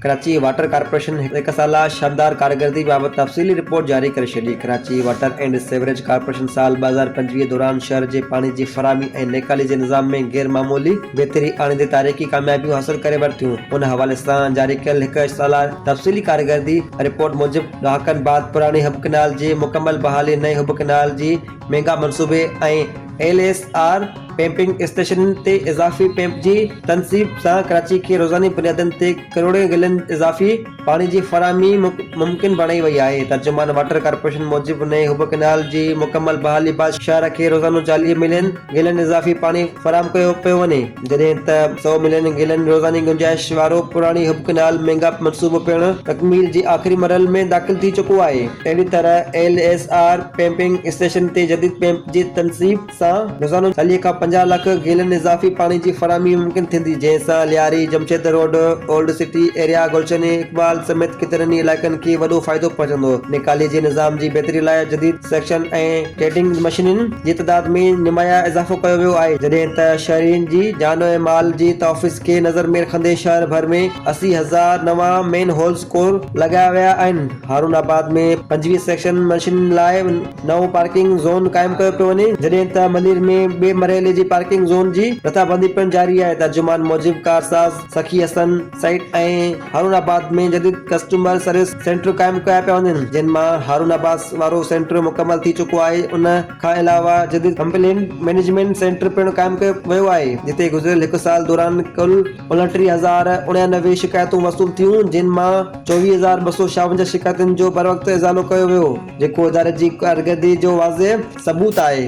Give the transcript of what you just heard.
Karachi water corporation هڪ سالا شاندار ڪارڪردگي بابت تفصيلي رپورٽ جاري ڪري ڇڏي Karachi water and sewerage corporation سال ٻه هزار پنجويهه دوران شهر جي پاڻي جي فراهمي ۽ نيڪالي جي نظام ۾ غير معمولي بهتري آڻيندي تاريخي ڪاميابيون حاصل ڪري ورتيون ان حوالي سان جاري ڪيل هڪ سالا تفصيلي ڪارڪردگي رپورٽ موجب ڏهاڪن بعد پراڻي حب ڪئنال جي مڪمل بحالي، نئين حب ڪئنال جي ميگا منصوبي ۽ ايل ايس آر پمپنگ اسٽيشنن تي اضافي پمپ جي تنصيب سان ڪراچي کي روزاني بنيادن تي ڪروڙين گيلن اضافي پاڻي جي فراهمي ممڪن بڻائي وئي آهي. ترجمان واٽر ڪارپوريشن موجب نئين حب ڪئنال جي مڪمل بحالي بعد شهر کي روزانو چاليهه ملين گيلن اضافي پاڻي فراهم ڪيو پيو وڃي جڏهن ته سؤ ملين گيلن روزاني گنجائش وارو پراڻي حب ڪئنال ميگاپ منصوبو پڻ تڪميل جي آخري مرحل ۾ داخل ٿي چڪو آهي اهڙي طرح L S R pumping station تي جديد پمپ جي تنصيب سان روزانو چاليهه کان پنجاهه لک گيلن اضافي پاڻي جي فراهمي ممڪن ٿيندي جنهن سان Lyari Jamshed road old city area Gulshan Iqbal سميت ڪيترن ئي علائقن کي وڏو فائدو پهچندو نيڪالي جي نظام جي بهتري لاء جديد سيڪشن ۽ ٽريڊنگ مشينرين جي تعداد ۾ نمايان اضافو ڪيو ويو آهي جڏهن ته شهرين جي جان ۽ مال جي تحفظ کي نظر ۾ رکندي شهر ڀر ۾ اسي هزار نوان مين هولز ڪور لڳايا ويا آهن هارون آباد ۾ پنجويهه سيڪشن مشينرين لاء نئون پارڪنگ زون قائم ڪيو پيو وڃي جڏهن ته ملير ۾ ٻئي مرحلي جي پارڪنگ زون جي رٿابندي پڻ جاري آهي ترجمان موجب ڪارساز سخي حسن سائيٽ ۽ هارون آباد ۾ جديد ڪسٽمر سروس سينٽر قائم ڪيا پيا وڃن جن مان هارون آباد وارو سينٽر مڪمل ٿي چڪو آهي ان کان علاوه جديد ڪمپلينٽ مئنيجمينٽ سينٽر پڻ قائم ڪيو ويو آهي جتي گذريل هڪ سال دوران ڪل انٽيهه هزار اڻيانوي شڪايتون وصول ٿيون جن مان چوويهه هزار ٻه سؤ ڇاونجاهه شڪايتن جو بروقت ازالو ڪيو ويو جيڪو اداري جي ڪارڪردگي جو واضح ثبوت آهي.